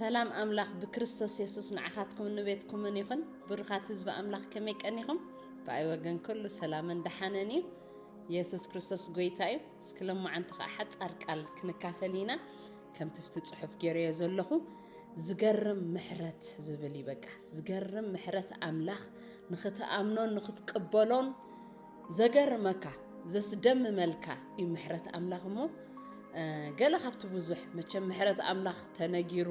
ሰላም ኣምላኽ ብክርስቶስ የሱስ ንዓኻትኩምን ንቤትኩምን ይኹን ብሩኻት ህዝቢ ኣምላኽ ከመይ ቀኒኹም ብኣይ ወገን ኩሉ ሰላምን ደሓነን እዩ የሱስ ክርስቶስ ጎይታ እዩ እስኪ ሎማዓንቲ ከዓ ሓፃር ቃል ክንካፈል ኢና ከምቲ ብቲ ፅሑፍ ገይረዮ ዘለኹ ዝገርም ምሕረት ዝብል እዩ በቃ ዝገርም ምሕረት ኣምላኽ ንኽትኣምኖን ንኽትቅበሎን ዘገርመካ ዘስደምመልካ እዩ ምሕረት ኣምላኽ እሞ ገለ ካብቲ ብዙሕ መቸም ምሕረት ኣምላኽ ተነጊሩ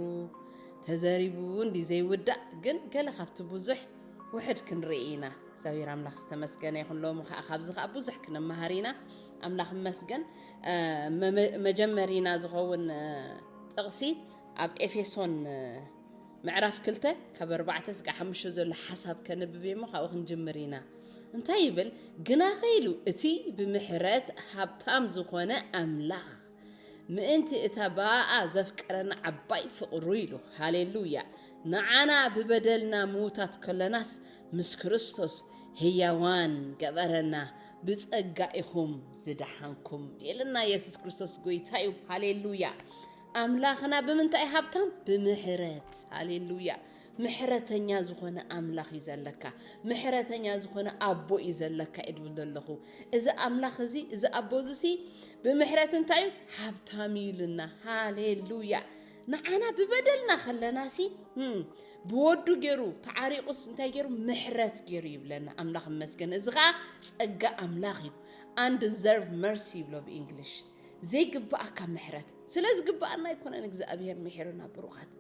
ተዘሪቡ እንዲ ዘይውዳእ ግን ገለ ካብቲ ብዙሕ ውሕድ ክንርኢ ኢና እግዚኣብሔር ኣምላኽ ዝተመስገነ ይኹን ሎሚ ከዓ ካብዚ ከዓ ብዙሕ ክንመሃር ኢና ኣምላኽ መስገን መጀመሪና ዝኸውን ጥቕሲ ኣብ ኤፌሶን ምዕራፍ ክልተ ካብ ኣርባዕተ ስጋ ሓሙሽተ ዘሎ ሓሳብ ከንብብ እሞ ካብኡ ክንጅምር ኢና እንታይ ይብል ግና ከኢሉ እቲ ብምሕረት ሃብታም ዝኾነ ኣምላኽ ምእንቲ እታ ብኣኣ ዘፍቀረና ዓባይ ፍቕሩ ኢሉ ሃሌሉያ ንዓና ብበደልና ምዉታት ከለናስ ምስ ክርስቶስ ህያዋን ገበረና ብጸጋ ኢኹም ዝደሓንኩም ኢልና የሱስ ክርስቶስ ጎይታ እዩ ሃሌሉያ ኣምላኽና ብምንታይ ሃብታም ብምሕረት ሃሌሉያ ምሕረተኛ ዝኾነ ኣምላኽ እዩ ዘለካ ምሕረተኛ ዝኾነ ኣቦ እዩ ዘለካ እዩ ድብል ዘለኹ እዚ ኣምላኽ እዚ እዚ ኣቦ እዚሲ ብምሕረት እንታይ እዩ ሃብታም እዩ ኢሉና ሃሌሉያ ንዓና ብበደልና ከለና ሲ ብወዱ ገይሩ ተዓሪቑስ እንታይ ገይሩ ምሕረት ገይሩ ይብለና ኣምላኽ መስገን እዚ ከዓ ፀጋ ኣምላኽ እዩ ኣንድዘርቭ መርሲ ይብሎ ብእንግሊሽ ዘይግብኣካ ምሕረት ስለ ዝግብኣና ኣይኮነን እግዚኣብሄር ምሒሩና ብሩኻት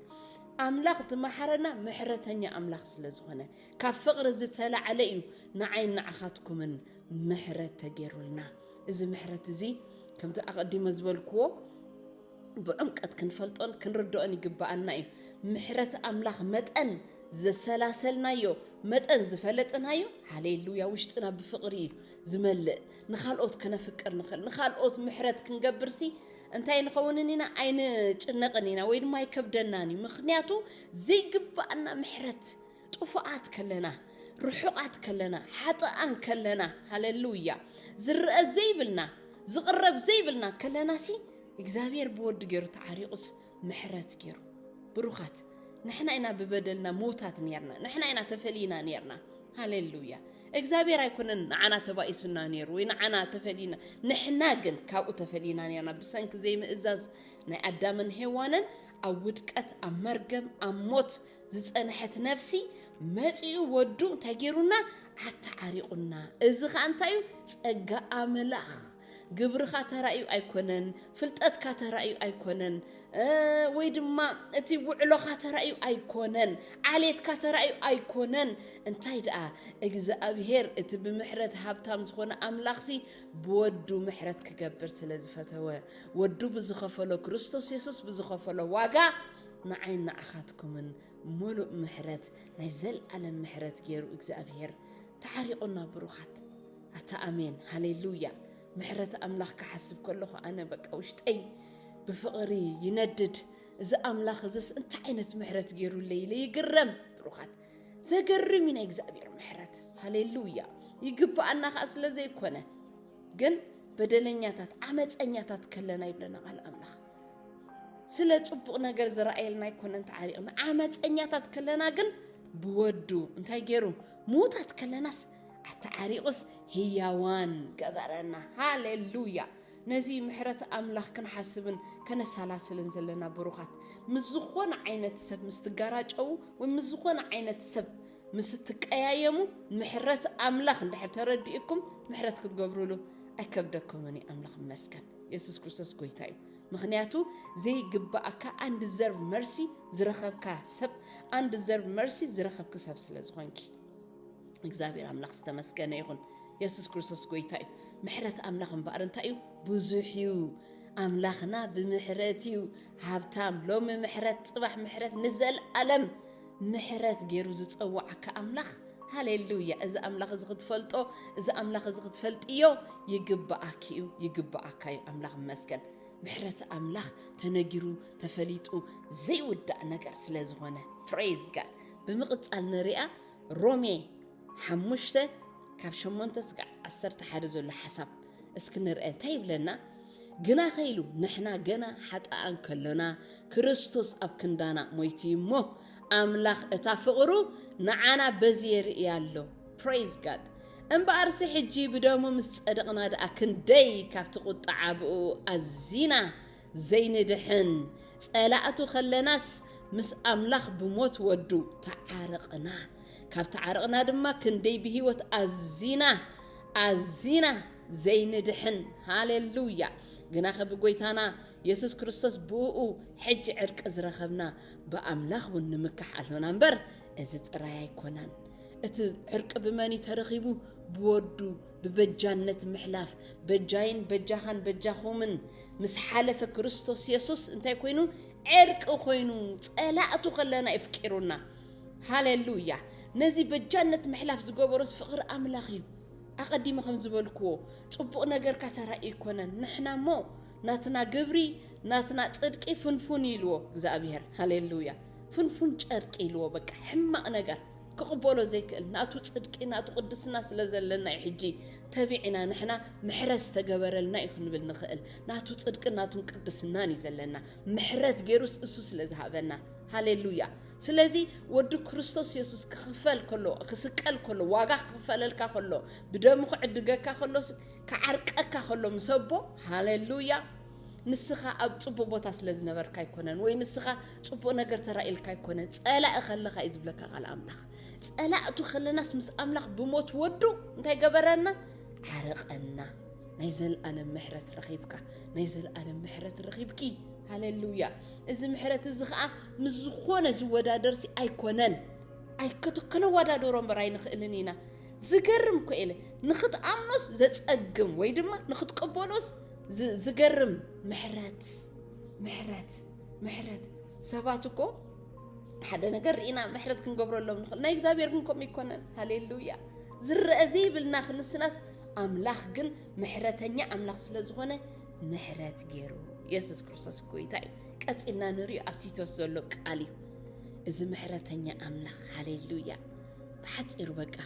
ኣምላኽ ዝመሓረና ምሕረተኛ ኣምላኽ ስለ ዝኾነ ካብ ፍቕሪ ዝተላዕለ እዩ ንዓይን ንዓኻትኩምን ምሕረት ተገይሩልና እዚ ምሕረት እዚ ከምቲ ኣቐዲመ ዝበልክዎ ብዕምቀት ክንፈልጦን ክንርድኦን ይግብኣና እዩ ምሕረት ኣምላኽ መጠን ዘሰላሰልናዮ መጠን ዝፈለጥናዮ ሃሌሉያ ውሽጥና ብፍቕሪ እዩ ዝመልእ ንኻልኦት ከነፍቅር ንኽእል ንኻልኦት ምሕረት ክንገብርሲ እንታይ ንኸውንን ኢና ኣይንጭነቕን ኢና ወይ ድማ ኣይከብደናን እዩ ምክንያቱ ዘይግባኣና ምሕረት ጥፉኣት ከለና ርሑቓት ከለና ሓጥኣን ከለና ሃለሉያ ዝረአ ዘይብልና ዝቕረብ ዘይብልና ከለናሲ እግዚኣብሔር ብወዲ ገይሩ ተዓሪቑስ ምሕረት ገይሩ ብሩኻት ንሕና ኢና ብበደልና ምውታት ነርና ንሕና ኢና ተፈልይና ነርና ሃሌሉያ እግዚኣብሔር ኣይኮነን ንዓና ተባኢሱና ነይሩ ወይ ንዓና ተፈልይና ንሕና ግን ካብኡ ተፈልይና ነርና ብሰንኪ ዘይምእዛዝ ናይ ኣዳምን ሄዋንን ኣብ ውድቀት ኣብ መርገም ኣብ ሞት ዝፀንሐት ነፍሲ መፂኡ ወዱ እንታይ ገይሩና ኣተዓሪቑና እዚ ከዓ እንታይ እዩ ፀጋ ኣምላኽ ግብርኻ ተራእዩ ኣይኮነን፣ ፍልጠትካ ተራእዩ ኣይኮነን፣ ወይ ድማ እቲ ውዕሎኻ ተራእዩ ኣይኮነን፣ ዓሌትካ ተራእዩ ኣይኮነን። እንታይ ደኣ እግዚኣብሄር እቲ ብምሕረት ሃብታም ዝኾነ ኣምላኽሲ ብወዱ ምሕረት ክገብር ስለ ዝፈተወ ወዱ ብዝኸፈሎ ክርስቶስ የሱስ ብዝኸፈሎ ዋጋ ንዓይን ንዓኻትኩምን ሙሉእ ምሕረት ናይ ዘልኣለም ምሕረት ገይሩ እግዚኣብሄር ተዓሪቑና ብሩኻት ኣታ ኣሜን ሃሌሉያ ምሕረት ኣምላኽ ክሓስብ ከለኹ ኣነ በቃ ውሽጠይ ብፍቕሪ ይነድድ እዚ ኣምላኽ እዝስ እንታይ ዓይነት ምሕረት ገይሩለይ ኢለ ይግረም ብሩኻት ዘገርም እዩ ናይ እግዚኣብሔር ምሕረት ሃሌሉያ ይግብኣና ከዓ ስለ ዘይኮነ ግን በደለኛታት ዓመፀኛታት ከለና ይብለና ቃል ኣምላኽ ስለ ፅቡቕ ነገር ዝረኣየልና ኣይኮነን ተዓሪቕና ዓመፀኛታት ከለና ግን ብወዱ እንታይ ገይሩ ምዉታት ከለናስ ኣተዓሪቑስ ህያዋን ገበረና። ሃሌሉያ! ነዚ እዩ ምሕረት ኣምላኽ ክንሓስብን ከነሰላስልን ዘለና ብሩኻት። ምስ ዝኾነ ዓይነት ሰብ ምስ ትጋራጨዉ ወይ ምስ ዝኾነ ዓይነት ሰብ ምስ እትቀያየሙ ምሕረት ኣምላኽ እንድሕር ተረዲእኩም ምሕረት ክትገብሩሉ ኣይከብደኩምን እዩ። ኣምላኽ ይመስገን። የሱስ ክርስቶስ ጎይታ እዩ። ምክንያቱ ዘይግባእካ ኣን ዲዘርቭ መርሲ ዝረኸብካ ሰብ ኣን ዲዘርቭ መርሲ ዝረኸብኪ ሰብ ስለ ዝኾንኪ እግዚኣብሔር ኣምላኽ ዝተመስገነ ይኹን። የሱስ ክርስቶስ ጎይታ እዩ። ምሕረት ኣምላኽ እምበኣር እንታይ እዩ? ብዙሕ እዩ። ኣምላኽና ብምሕረት እዩ ሃብታም። ሎሚ ምሕረት፣ ፅባሕ ምሕረት፣ ንዘለኣለም ምሕረት ገይሩ ዝፀዋዓካ ኣምላኽ ሃሌሉያ! እዚ ኣምላኽ እዚ ክትፈልጦ እዚ ኣምላኽ እዚ ክትፈልጥዮ ይግብኣኪ እዩ ይግብኣካ እዩ። ኣምላኽ ይመስገን። ምሕረት ኣምላኽ ተነጊሩ ተፈሊጡ ዘይውዳእ ነገር ስለ ዝኾነ ፕሬዝ ጋድ ብምቕጻል ንርኣ ሮሜ ሓሙሽተ ካብ ሸሞንተ ስጋዕ ዓሰርተ ሓደ ዘሎ ሓሳብ እስኪ ንርአ እንታይ ይብለና? ግናኸ ኢሉ ንሕና ገና ሓጥኣን ከሎና ክርስቶስ ኣብ ክንዳና ሞይቱ እዩ እሞ ኣምላኽ እታ ፍቕሩ ንዓና በዚ የርእያ ኣሎ ፕሬዝ ጋድ እምበኣርሲ ሕጂ ብደሙ ምስ ጸደቕና ደኣ ክንደይ ካብቲ ቁጣዓ ብኡ ኣዚና ዘይንድሕን ጸላእቱ ከለናስ ምስ ኣምላኽ ብሞት ወዱ ተዓርቕና ካብ ተዓርቕና ድማ ክንደይ ብህይወት ኣዚና ኣዚና ዘይንድሕን ሃሌሉያ ግናኸ ብጎይታና የሱስ ክርስቶስ ብእኡ ሕጂ ዕርቂ ዝረኸብና ብኣምላኽ እውን ንምካሕ ኣሎና እምበር እዚ ጥራይ ኣይኮነን እቲ ዕርቂ ብመን እዩ ተረኺቡ ብወዱ ብበጃነት ምሕላፍ በጃይን በጃኻን በጃኹምን ምስ ሓለፈ ክርስቶስ የሱስ እንታይ ኮይኑ ዕርቂ ኮይኑ ጸላእቱ ከለና የፍቂሩና ሃሌሉያ ነዚ በጃነት ምሕላፍ ዝገበሮስ ፍቕሪ ኣምላኽ እዩ ኣቐዲመ ከም ዝበልክዎ ጽቡቕ ነገርካ ተራኢ ይኮነን ንሕና እሞ ናትና ግብሪ ናትና ጽድቂ ፍንፉን ኢልዎ እግዚኣብሄር ሃሌሉያ ፍንፉን ጨርቂ ኢልዎ በቃ ሕማቅ ነገር ክቕበሎ ዘይክእል ናቱ ጽድቂ ናቱ ቅድስና ስለ ዘለና እዩ ሕጂ ተቢዕና ንሕና ምሕረት ዝተገበረልና እዩ ክንብል ንኽእል ናቱ ጽድቂ ናቱን ቅድስናን እዩ ዘለና ምሕረት ገይሩስ እሱ ስለ ዝሃበና ሃሌሉያ ስለዚ ወዲ ክርስቶስ የሱስ ክኽፈል ከሎ ክስቀል ከሎ ዋጋ ክኽፈለልካ ከሎ ብደሙ ክዕድገካ ከሎ ክዓርቀካ ከሎ ምስ ኣቦ ሃሌሉያ ንስኻ ኣብ ጽቡቕ ቦታ ስለ ዝነበርካ ኣይኮነን ወይ ንስኻ ጽቡቕ ነገር ተራእልካ ኣይኮነን ጸላኢ ከለኻ እዩ ዝብለካ ቃል ኣምላኽ ጸላእቱ ከለናስ ምስ ኣምላኽ ብሞት ወዱ እንታይ ገበረና ዓረቐና ናይ ዘለኣለም ምሕረት ረኺብካ ናይ ዘለኣለም ምሕረት ረኺብኪ ሃሌሉያ እዚ ምሕረት እዚ ከዓ ምስ ዝኾነ ዝወዳደርሲ ኣይኮነን ኣይከቶ ከነወዳደሮ እምበር ኣይንኽእልን ኢና ዝገርም ኮ ኢለ ንኽትኣምኖስ ዘጸግም ወይ ድማ ንኽትቅበሎስ ዝገርም ምሕረት ምሕረት ምሕረት ሰባት እኮ ሓደ ነገር ርኢና ምሕረት ክንገብረሎም ንኽእል ናይ እግዚኣብሔር ግን ከምኡ ይኮነን ሃሌሉያ ዝረአ ዘይብልና ክንስናስ ኣምላኽ ግን ምሕረተኛ ኣምላኽ ስለ ዝኾነ ምሕረት ገይሩ የሱስ ክርስቶስ ጎይታ እዩ ቀፂልና ንሪኦ ኣብ ቲቶስ ዘሎ ቃል እዩ እዚ ምሕረተኛ ኣምላኽ ሃሌሉያ ብሓፂሩ በቃ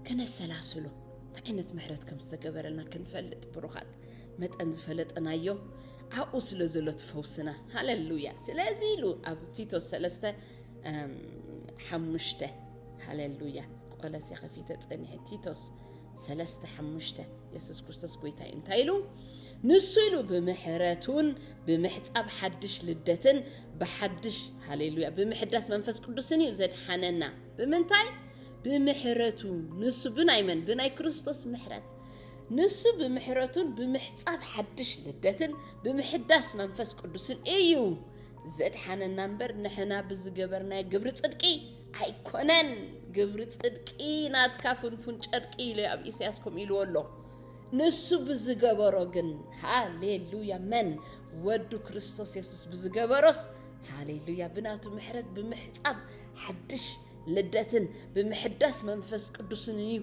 ከነሰላስሎ እንታይ ዓይነት ምሕረት ከም ዝተገበረልና ክንፈልጥ ብሩኻት መጠን ዝፈለጠናዮ ኣብኡ ስለ ዘሎ ትፈውስና ሃለሉያ ስለዚ ኢሉ ኣብ ቲቶ ሰለስተ ሓሙሽተ ሃለሉያ ቆለሴ ከፊተ ፀኒሐ ቲቶስ ሰለስተ ሓሙሽተ የሱስ ክርስቶስ ጎይታ እዩ እንታይ ኢሉ ንሱ ኢሉ ብምሕረቱን ብምሕፃብ ሓድሽ ልደትን ብሓድሽ ሃሌሉያ ብምሕዳስ መንፈስ ቅዱስን እዩ ዘድሓነና ብምንታይ ብምሕረቱ ንሱ ብናይ መን ብናይ ክርስቶስ ምሕረት ንሱ ብምሕረቱን ብምሕፃብ ሓድሽ ልደትን ብምሕዳስ መንፈስ ቅዱስን እዩ ዘድሓነና እምበር ንሕና ብዝገበርናዮ ግብሪ ፅድቂ ኣይኮነን ግብሪ ፅድቂ ናትካ ፍንፉን ጨርቂ ኢሉ ኣብ ኢሳያስ ከምኡ ኢልዎ ኣሎ ንሱ ብዝገበሮ ግን ሃሌሉያ መን ወዱ ክርስቶስ የሱስ ብዝገበሮስ ሃሌሉያ ብናቱ ምሕረት ብምሕፃብ ሓድሽ ልደትን ብምሕዳስ መንፈስ ቅዱስን እዩ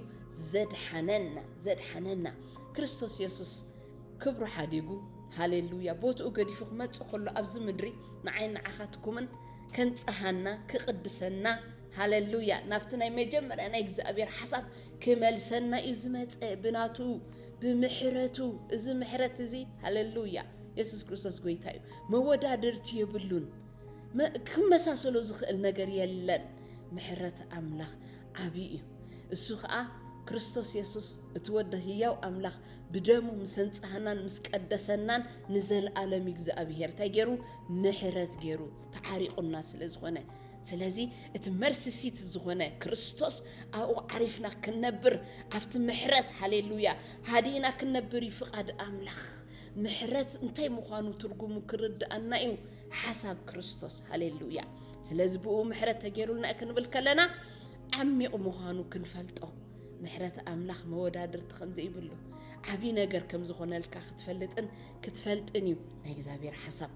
ዘድሓነና ዘድሓነና ክርስቶስ የሱስ ክብሩ ሓዲጉ ሃሌሉያ ቦትኡ ገዲፉ ክመፅእ ከሎ ኣብዚ ምድሪ ንዓይ ንዓኻትኩምን ከንፀሃና ክቕድሰና ሃሌሉያ ናብቲ ናይ መጀመርያ ናይ እግዚኣብሔር ሓሳብ ክመልሰና እዩ ዝመፀ ብናቱ ብምሕረቱ እዚ ምሕረት እዚ ሃሌሉያ የሱስ ክርስቶስ ጎይታ እዩ መወዳድርቲ የብሉን ክመሳሰሎ ዝኽእል ነገር የለን። ምሕረት ኣምላኽ ዓብዪ እዩ። እሱ ከዓ ክርስቶስ የሱስ እቲ ወደ ህያው ኣምላኽ ብደሙ ምስ ኣንጽሃናን ምስ ቀደሰናን ንዘለኣለም እግዚኣብሄር እንታይ ገይሩ ምሕረት ገይሩ ተዓሪቑና ስለ ዝኾነ ስለዚ እቲ መርሲሲት ዝኾነ ክርስቶስ ኣብኡ ዓሪፍና ክንነብር ኣብቲ ምሕረት ሃሌሉያ ሃዲእና ክንነብር እዩ ፍቓድ ኣምላኽ ምሕረት እንታይ ምዃኑ ትርጉሙ ክርድኣና እዩ ሓሳብ ክርስቶስ ሃሌሉያ ስለዚ ብኡ ምሕረት ተገይሩልና እዩ ክንብል ከለና ዓሚቕ ምዃኑ ክንፈልጦ ምሕረት ኣምላኽ መወዳድርቲ ከም ዘይብሉ ዓብዪ ነገር ከም ዝኾነልካ ክትፈልጥን ክትፈልጥን እዩ ናይ እግዚኣብሔር ሓሳብ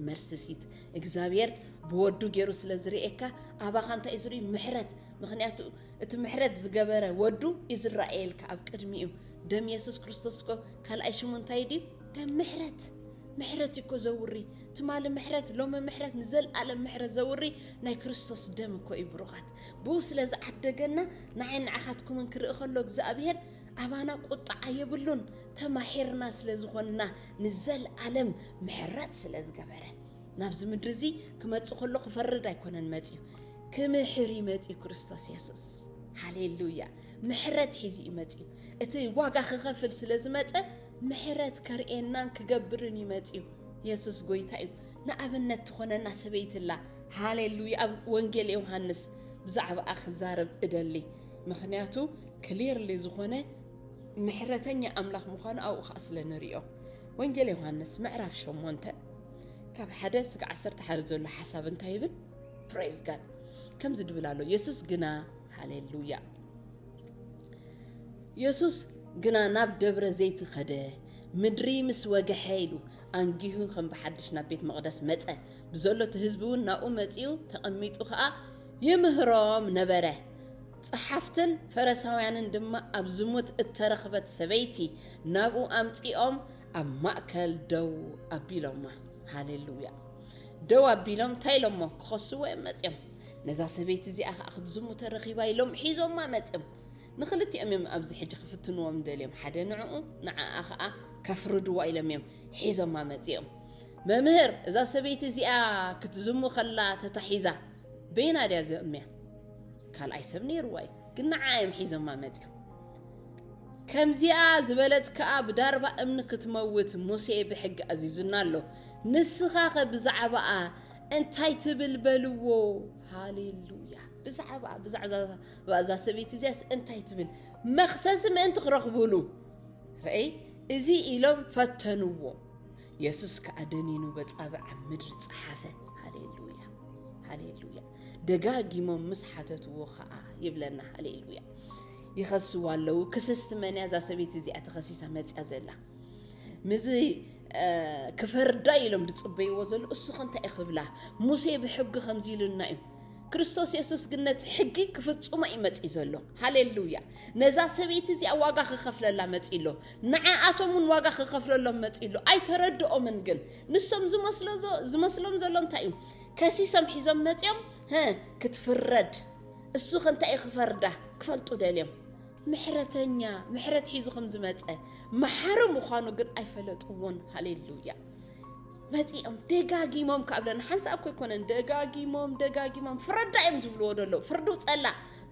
መርስሲት እግዚኣብሔር ብወዱ ገይሩ ስለ ዝርእካ ኣባኻ እንታይ እዩ ዝርኢ ምሕረት ምክንያቱ እቲ ምሕረት ዝገበረ ወዱ እዩ ዝረኣየልካ ኣብ ቅድሚ እዩ ደም የሱስ ክርስቶስ ኮ ካልኣይ ሽሙ እንታይ ድዩ ደም ምሕረት ምሕረት እዩ እኮ ዘውሪ ትማሊ ምሕረት ሎሚ ምሕረት ንዘለኣለም ምሕረት ዘውሪ ናይ ክርስቶስ ደም እኮ እዩ ብሩኻት ብኡ ስለ ዝዓደገና ንዓይ ንዓኻትኩምን ክርኢ ከሎ እግዚኣብሄር ኣባና ቁጣዓ የብሉን ተማሒርና ስለ ዝኾንና ንዘለኣለም ምሕረት ስለ ዝገበረ ናብዚ ምድሪ እዚ ክመፅእ ከሎ ክፈርድ ኣይኮነን መፅዩ ክምሕር እዩ መፅዩ ክርስቶስ የሱስ ሃሌሉያ ምሕረት ሒዙ እዩ መፅዩ እቲ ዋጋ ክኸፍል ስለ ዝመፀ ምሕረት ከርእየናን ክገብርን እዩ መጺኡ። የሱስ ጎይታ እዩ። ንኣብነት ትኾነና ሰበይቲ ኣላ። ሃሌሉያ! ኣብ ወንጌል ዮሃንስ ብዛዕባኣ ክዛረብ እደሊ፣ ምኽንያቱ ክሊርሊ ዝኾነ ምሕረተኛ ኣምላኽ ምዃኑ ኣብኡ ከዓ ስለ ንሪኦ። ወንጌል ዮሃንስ ምዕራፍ ሸሞንተ ካብ ሓደ ስጋ ዓሰርተ ሓደ ዘሎ ሓሳብ እንታይ ይብል? ፕሬዝ ጋድ ከምዚ ድብል ኣሎ የሱስ ግና ሃሌሉያ የሱስ ግና ናብ ደብረ ዘይቲ ኸደ ምድሪ ምስ ወግሐ ኢሉ ኣንጊሁ ከም ብሓድሽ ናብ ቤት መቕደስ መጸ ብዘሎ እቲ ህዝቢ እውን ናብኡ መጺኡ ተቐሚጡ ኸኣ ይምህሮም ነበረ ጸሓፍትን ፈረሳውያንን ድማ ኣብ ዝሙት እተረኽበት ሰበይቲ ናብኡ ኣምጺኦም ኣብ ማእከል ደው ኣቢሎማ ሃሌሉያ ደው ኣቢሎም እንታይ ኢሎሞ ክኸስዎ እዮም መጺኦም ነዛ ሰበይቲ እዚኣ ከዓ ክትዝሙተ ረኺባ ኢሎም ሒዞማ መፅም ንክልቲኦም እዮም ኣብዚ ሕጂ ክፍትንዎም ደልዮም ሓደ ንዕኡ ንዓኣ ከዓ ከፍርድዋ ኢሎም እዮም ሒዞማ መፂኦም መምህር እዛ ሰበይቲ እዚኣ ክትዝሙ ከላ ተታሒዛ በይና ድያ ዘእምያ ካልኣይ ሰብ ነይርዋ እዩ ግን ንዓ እዮም ሒዞማ መፅኦም ከምዚኣ ዝበለት ከዓ ብዳርባ እምኒ ክትመውት ሙሴ ብሕጊ ኣዚዙና ኣሎ ንስኻ ኸ ብዛዕባኣ እንታይ ትብል በልዎ ሃሌሉያ ብዛዕባ ብዛዕባ እዛ ሰበይቲ እዚያስ እንታይ ትብል መክሰሲ ምእንቲ ክረኽብሉ ረአይ እዚ ኢሎም ፈተንዎ የሱስ ከዓ ደኒኑ በፃብዕ ኣብ ምድሪ ፀሓፈ ሃሌሉያ ሃሌሉያ ደጋጊሞም ምስ ሓተትዎ ከዓ ይብለና ሃሌሉያ ይኸስዋ ኣለዉ ክስስቲ መን እያ እዛ ሰበይቲ እዚኣ ተኸሲሳ መፅያ ዘላ ምዚ ክፈርዳ ኢሎም ዝፅበይዎ ዘሎ እሱኸ እንታይ እዩ ክብላ ሙሴ ብሕጊ ከምዚ ኢሉና እዩ ክርስቶስ የሱስ ግን ነቲ ሕጊ ክፍፅሞ እዩ መፅኢ ዘሎ ሃሌሉያ ነዛ ሰበይቲ እዚኣ ዋጋ ክኸፍለላ መፅኢ ኣሎ ንዓኣቶም እውን ዋጋ ክኸፍለሎም መፅኢ ኣሎ ኣይተረድኦምን ግን ንሶም ዝመስሎም ዘሎ እንታይ እዩ ከሲሶም ሒዞም መፅኦም ክትፍረድ እሱ ከ እንታይ እዩ ክፈርዳ ክፈልጡ ደልዮም ምሕረተኛ ምሕረት ሒዙ ከም ዝመፀ መሓሪ ምዃኑ ግን ኣይፈለጥዎን ሃሌሉያ መፂኦም ደጋጊሞም ካብ ለና ሓንሳእ እኮ ኣይኮነን ደጋጊሞም ደጋጊሞም ፍረዳ እዮም ዝብልዎ ዘለዉ ፍርዱ ፀላ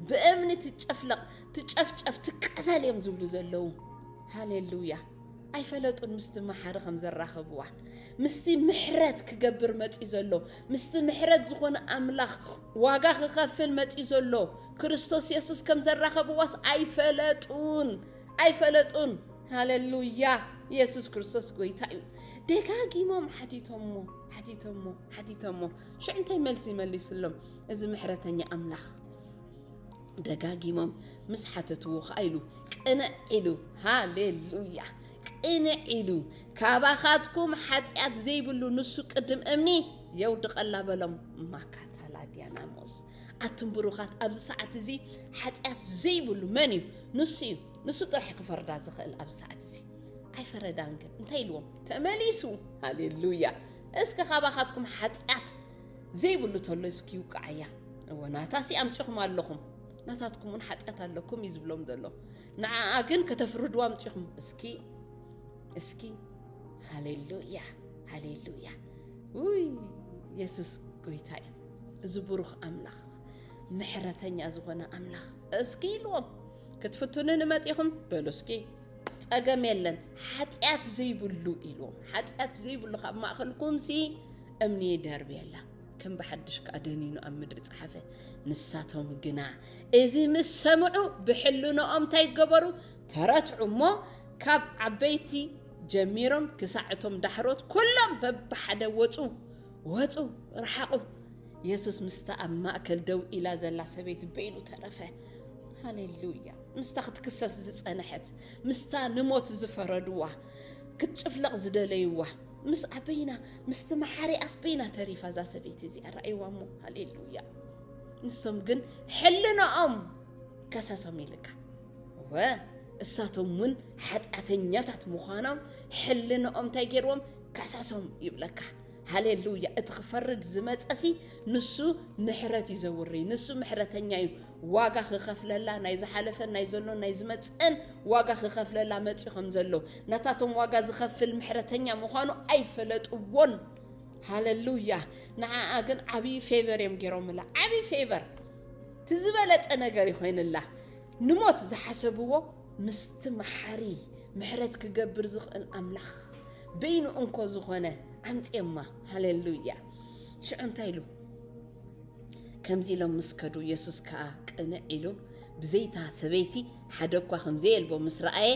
ብእምኒ ትጨፍለቕ ትጨፍጨፍ ትቃተል እዮም ዝብሉ ዘለዉ ሃሌሉያ ኣይፈለጡን ምስቲ መሓሪ ከም ዘራኸብዋ ምስቲ ምሕረት ክገብር መፅኡ ዘሎ ምስቲ ምሕረት ዝኾነ ኣምላኽ ዋጋ ክኸፍል መጺኡ ዘሎ ክርስቶስ የሱስ ከም ዘራኸብዋስ ኣይፈለጡን ኣይፈለጡን። ሃለሉያ! የሱስ ክርስቶስ ጎይታ እዩ። ደጋጊሞም ሓቲቶሞ ሓቲቶሞ ሓቲቶሞ ሽዑ እንታይ መልሲ መሊስሎም እዚ ምሕረተኛ ኣምላኽ ደጋጊሞም ምስ ሓተትዎ ከዓ ኢሉ ቅንዕ ኢሉ ሃሌሉያ ቅንዕ ኢሉ ካባኻትኩም ሓጢኣት ዘይብሉ ንሱ ቅድም እምኒ የውድቐላ በሎም ማካታላ ዲያናሞስ ኣቱም ብሩኻት ኣብዚ ሰዓት እዚ ሓጢኣት ዘይብሉ መን እዩ ንሱ እዩ ንሱ ጥራሕ ክፈርዳ ዝኽእል ኣብዚ ሰዓት እዚ ኣይፈረዳን ግን እንታይ ኢልዎም ተመሊሱ ሃሌሉያ እስከ ካባኻትኩም ሓጢኣት ዘይብሉ ተሎ እስኪ ይውቅዓያ እወ ናታሲ ኣምፂኹም ኣለኹም ናታትኩም እውን ሓጢኣት ኣለኩም እዩ ዝብሎም ዘሎ ንዓኣ ግን ከተፍርድዋ ኣምፂኹም እስኪ እስኪ ሃሌሉያ ሃሌሉያ ውይ የሱስ ጎይታ እዩ እዚ ብሩኽ ኣምላኽ ምሕረተኛ ዝኾነ ኣምላኽ እስኪ ኢልዎም ክትፍትኑ ንመፂኹም በሉ እስኪ ፀገም የለን ሓጢኣት ዘይብሉ ኢልዎም ሓጢኣት ዘይብሉ ካብ ማእኸልኩም ሲ እምኒ ደርቢ የላ ከም ብሓድሽ ከዓ ደኒኑ ኣብ ምድሪ ፀሓፈ ንሳቶም ግና እዚ ምስ ሰምዑ ብሕልንኦም እንታይ ገበሩ ተረትዑ እሞ ካብ ዓበይቲ ጀሚሮም ክሳዕ እቶም ዳሕሮት ኩሎም በብሓደ ወፁ ወፁ ረሓቑ የሱስ ምስታ ኣብ ማእከል ደው ኢላ ዘላ ሰበይቲ በይኑ ተረፈ ሃሌሉያ ምስታ ክትክሰስ ዝጸንሐት ምስታ ንሞት ዝፈረድዋ ክትጭፍለቕ ዝደለይዋ ምስ ኣበይና ምስቲ መሓሪ ኣስበይና ተሪፋ እዛ ሰበይቲ እዚኣ ረኣይዋ እሞ ሃሌሉያ ንሶም ግን ሕልንኦም ከሰሶም ይልካ እወ እሳቶም እውን ሓጢኣተኛታት ምዃኖም ሕልንኦም እንታይ ገይርዎም ካሳሶም ይብለካ ሃሌሉያ እቲ ክፈርድ ዝመፀሲ ንሱ ምሕረት እዩ ዘውሪ ንሱ ምሕረተኛ እዩ ዋጋ ክኸፍለላ ናይ ዝሓለፈን ናይ ዘሎን ናይ ዝመፅእን ዋጋ ክኸፍለላ መፅኡ ከም ዘሎ ነታቶም ዋጋ ዝኸፍል ምሕረተኛ ምዃኑ ኣይፈለጥዎን ሃሌሉያ ንዓኣ ግን ዓብዪ ፌቨር እዮም ገይሮምላ ዓብዪ ፌቨር እቲ ዝበለፀ ነገር ይኮይንላ ንሞት ዝሓሰብዎ ምስቲ መሓሪ ምሕረት ክገብር ዝኽእል ኣምላኽ በይኑ እንኮ ዝኾነ ኣምጽዮማ ሃሌሉያ ሽዑ እንታይ ኢሉ ከምዚ ኢሎም ምስ ከዱ የሱስ ከዓ ቅንዕ ኢሉ ብዘይታ ሰበይቲ ሓደ እኳ ከምዘየልቦ ምስ ረኣየ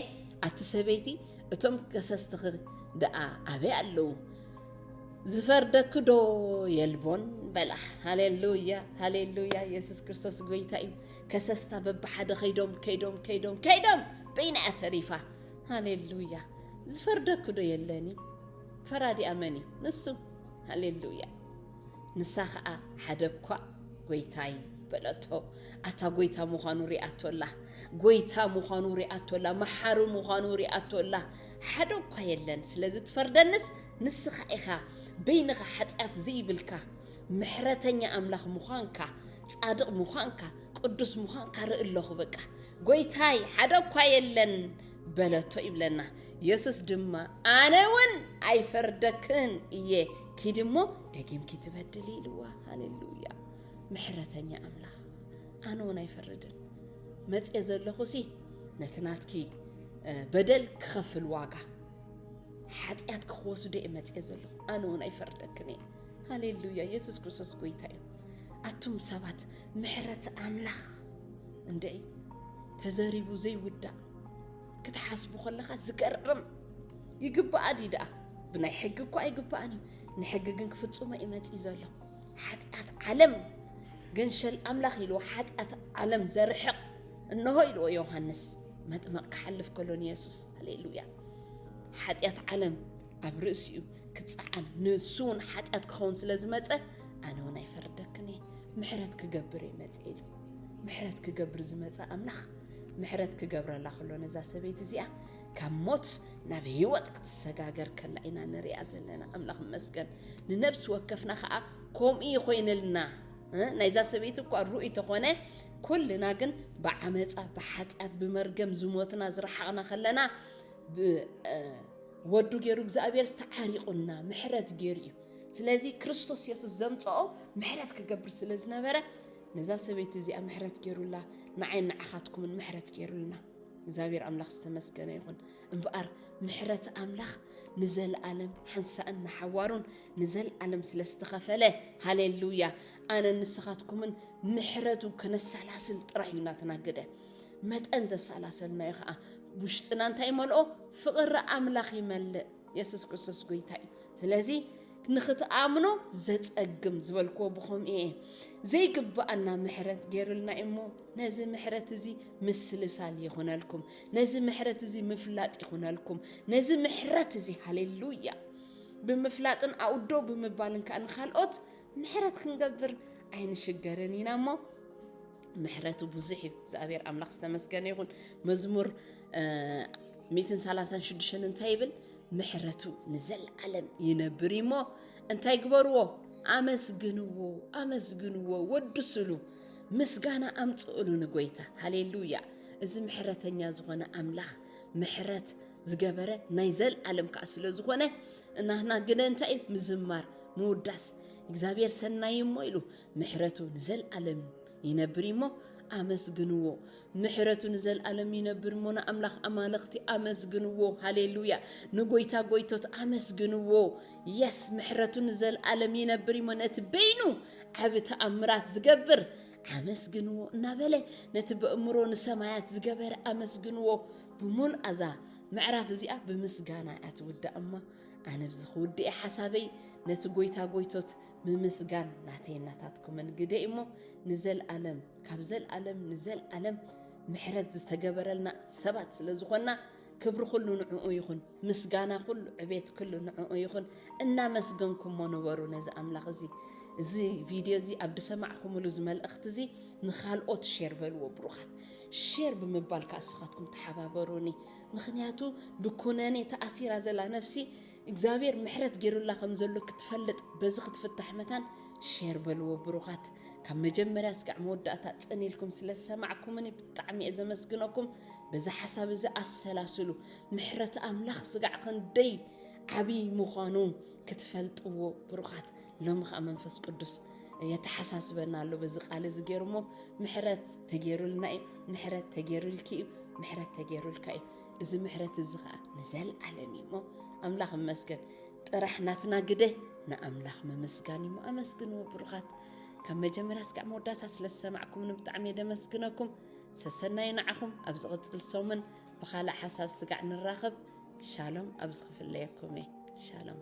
ኣቲ ሰበይቲ እቶም ከሰስትኺ ደኣ ኣበይ ኣለዉ ዝፈርደኪ ዶ የልቦን በላ ሃሌሉያ ሃሌሉያ የሱስ ክርስቶስ ጎይታ እዩ ከሰስታ በብሓደ ከይዶም ከይዶም ከይዶም ከይዶም በይና እያ ተሪፋ ሃሌሉያ ዝፈርደኩ ዶ የለን እዩ ፈራዲ ኣመን እዩ ንሱ ሃሌሉያ ንሳ ከዓ ሓደ እኳ ጎይታይ በለቶ ኣታ ጎይታ ምዃኑ ሪኣቶ ኣላ ጎይታ ምዃኑ ሪኣቶ ኣላ መሓሪ ምዃኑ ሪኣቶ ኣላ ሓደ እኳ የለን ስለዚ ትፈርደንስ ንስኻ ኢኻ በይንኻ ሓጢኣት ዘይብልካ ምሕረተኛ ኣምላኽ ምዃንካ ጻድቕ ምዃንካ ቅዱስ ምዃንካ ርኢ ኣለኹ በቃ ጎይታይ ሓደ እኳ የለን በለቶ ይብለና የሱስ ድማ ኣነ እውን ኣይፈርደክን እየ ኪድ እሞ ደጊምኪ ትበድል ኢልዋ ሃሌሉያ ምሕረተኛ ኣምላኽ ኣነ እውን ኣይፈርድን መፅኤ ዘለኹ ሲ ነቲ ናትኪ በደል ክኸፍል ዋጋ ሓጢኣትኪ ክወስዶ እየ መፅኤ ዘለኹ ኣነ እውን ኣይፈርደክን እየ ሃሌሉያ ኢየሱስ ክርስቶስ ጎይታ እዩ ኣቱም ሰባት ምሕረት ኣምላኽ እንድዒ ተዘሪቡ ዘይውዳእ ክትሓስቡ ከለኻ ዝገርም ይግባኣ ድዩ ደኣ ብናይ ሕጊ እኳ ኣይግባኣን እዩ ንሕጊ ግን ክፍፅሞ እዩ መፅኢ ዘሎ ሓጢኣት ዓለም ገንሸል ኣምላኽ ኢልዎ ሓጢኣት ዓለም ዘርሕቕ እንሆ ኢልዎ ዮሃንስ መጥመቕ ክሓልፍ ከሎን የሱስ ሃሌሉያ ሓጢኣት ዓለም ኣብ ርእሲኡ ክጸዓን ንሱ እውን ሓጢኣት ክኸውን ስለ ዝመፀ ኣነ እውን ኣይፈርደክን እየ ምሕረት ክገብር እየ መፀ ኢሉ ምሕረት ክገብር ዝመፀ ኣምላኽ ምሕረት ክገብረላ ከሎ ነዛ ሰበይቲ እዚኣ ካብ ሞት ናብ ህይወት ክትሰጋገር ከላ ኢና ንሪኣ ዘለና ኣምላኽ መስገን ንነብሲ ወከፍና ከዓ ከምኡ ይኮይንልና ናይዛ ሰበይቲ እኳ ርኡይ ተኾነ ኩልና ግን ብዓመፃ ብሓጢኣት ብመርገም ዝሞትና ዝረሓቕና ከለና ወዱ ገይሩ እግዚኣብሔር ዝተዓሪቑና ምሕረት ገይሩ እዩ ስለዚ ክርስቶስ የሱስ ዘምፅኦ ምሕረት ክገብር ስለ ዝነበረ ነዛ ሰበይቲ እዚኣ ምሕረት ገይሩላ ንዓይን ንዓኻትኩምን ምሕረት ገይሩልና እግዚኣብሔር ኣምላኽ ዝተመስገነ ይኹን እምበኣር ምሕረት ኣምላኽ ንዘለኣለም ሓንሳእን ንሓዋሩን ንዘለኣለም ስለ ዝተኸፈለ ሃሌሉያ ኣነ ንስኻትኩምን ምሕረቱ ከነሰላስል ጥራሕ እዩ እናተናገደ መጠን ዘሰላሰልናዮ ከዓ ውሽጥና እንታይ ይመልኦ? ፍቕሪ ኣምላኽ ይመልእ። የሱስ ክርስቶስ ጎይታ እዩ። ስለዚ ንኽትኣምኖ ዘጸግም ዝበልክዎ ብኹም እየ ዘይግብኣና ምሕረት ገይሩልና እሞ ነዚ ምሕረት እዚ ምስልሳል ይኹነልኩም፣ ነዚ ምሕረት እዚ ምፍላጥ ይኹነልኩም፣ ነዚ ምሕረት እዚ ሃሌሉያ ብምፍላጥን ኣውዶ ብምባልን ከዓ ንካልኦት ምሕረት ክንገብር ኣይንሽገርን ኢና እሞ ምሕረቱ ብዙሕ እዩ እግዚኣብሔር ኣምላኽ ዝተመስገነ ይኹን መዝሙር 136 እንታይ ይብል ምሕረቱ ንዘለዓለም ይነብር እሞ እንታይ ግበርዎ ኣመስግንዎ ኣመስግንዎ ወድስሉ ምስጋና ኣምፅእሉ ንጎይታ ሃሌሉያ እዚ ምሕረተኛ ዝኾነ ኣምላኽ ምሕረት ዝገበረ ናይ ዘለዓለም ከዓ ስለ ዝኾነ እናህና ግን እንታይ እዩ ምዝማር ምውዳስ እግዚኣብሔር ሰናይ እሞ ኢሉ ምሕረቱ ንዘልኣለም ይነብር እዩሞ ኣመስግንዎ ምሕረቱ ንዘልኣለም ይነብር እሞ ንኣምላኽ ኣማልኽቲ ኣመስግንዎ ሃሌሉያ ንጎይታ ጎይቶት ኣመስግንዎ የስ ምሕረቱ ንዘልኣለም ይነብር እዩሞ ነቲ በይኑ ዓብ ተኣምራት ዝገብር ኣመስግንዎ እናበለ ነቲ በእምሮ ንሰማያት ዝገበረ ኣመስግንዎ ብምሉእ ኣዛ ምዕራፍ እዚኣ ብምስጋና እያ ትውዳእ እማ ኣነ ብዚ ክውድእ ሓሳበይ ነቲ ጎይታ ጎይቶት ምምስጋን ናተይን ናታትኩምን ግደ እዩሞ ንዘልኣለም ካብ ዘልኣለም ንዘልኣለም ምሕረት ዝተገበረልና ሰባት ስለ ዝኾና ክብሪ ኩሉ ንዕኡ ይኹን፣ ምስጋና ኩሉ ዕቤት ኩሉ ንዕኡ ይኹን። እናመስገንኩሞ ነበሩ ነዚ ኣምላኽ እዚ እዚ ቪድዮ እዚ ኣብ ድሰማዕኹምሉ እዚ መልእኽቲ እዚ ንካልኦት ሼር በልዎ ብሩኻት ሼር ብምባል ከዓ ንስኻትኩም ተሓባበሩኒ ምክንያቱ ብኩነኔ ተኣሲራ ዘላ ነፍሲ እግዚኣብሔር ምሕረት ጌሩላ ከም ዘሎ ክትፈልጥ በዚ ክትፍታሕ መታን ሼር በልዎ ብሩኻት ካብ መጀመርያ እስካዕ መወዳእታ ጽን ኢልኩም ስለ ዝሰማዕኩምኒ ብጣዕሚ እየ ዘመስግነኩም በዚ ሓሳብ እዚ ኣሰላስሉ ምሕረት ኣምላኽ ስጋዕ ክንደይ ዓብይ ምዃኑ ክትፈልጥዎ ብሩኻት ሎሚ ከዓ መንፈስ ቅዱስ የተሓሳስበና ኣሎ በዚ ቃል እዚ ገይሩ እሞ ምሕረት ተገይሩልና እዩ ምሕረት ተገይሩልኪ እዩ ምሕረት ተገይሩልካ እዩ እዚ ምሕረት እዚ ከዓ ንዘለዓለም እዩ እሞ ኣምላኽ እመስገን ጥራሕ ናትና ግደ ንኣምላኽ ምምስጋን እዩ ኣመስግንዎ ብሩኻት ካብ መጀመርያ ስካዕ መወዳእታ ስለ ዝሰማዕኩምኒ ብጣዕሚ እየ ደመስግነኩም ሰሰናዩ ንዓኹም ኣብ ዝቕፅል ሰሙን ብካልእ ሓሳብ ስጋዕ ንራኸብ ሻሎም ኣብ ዝኽፍለየኩም እየ ሻሎም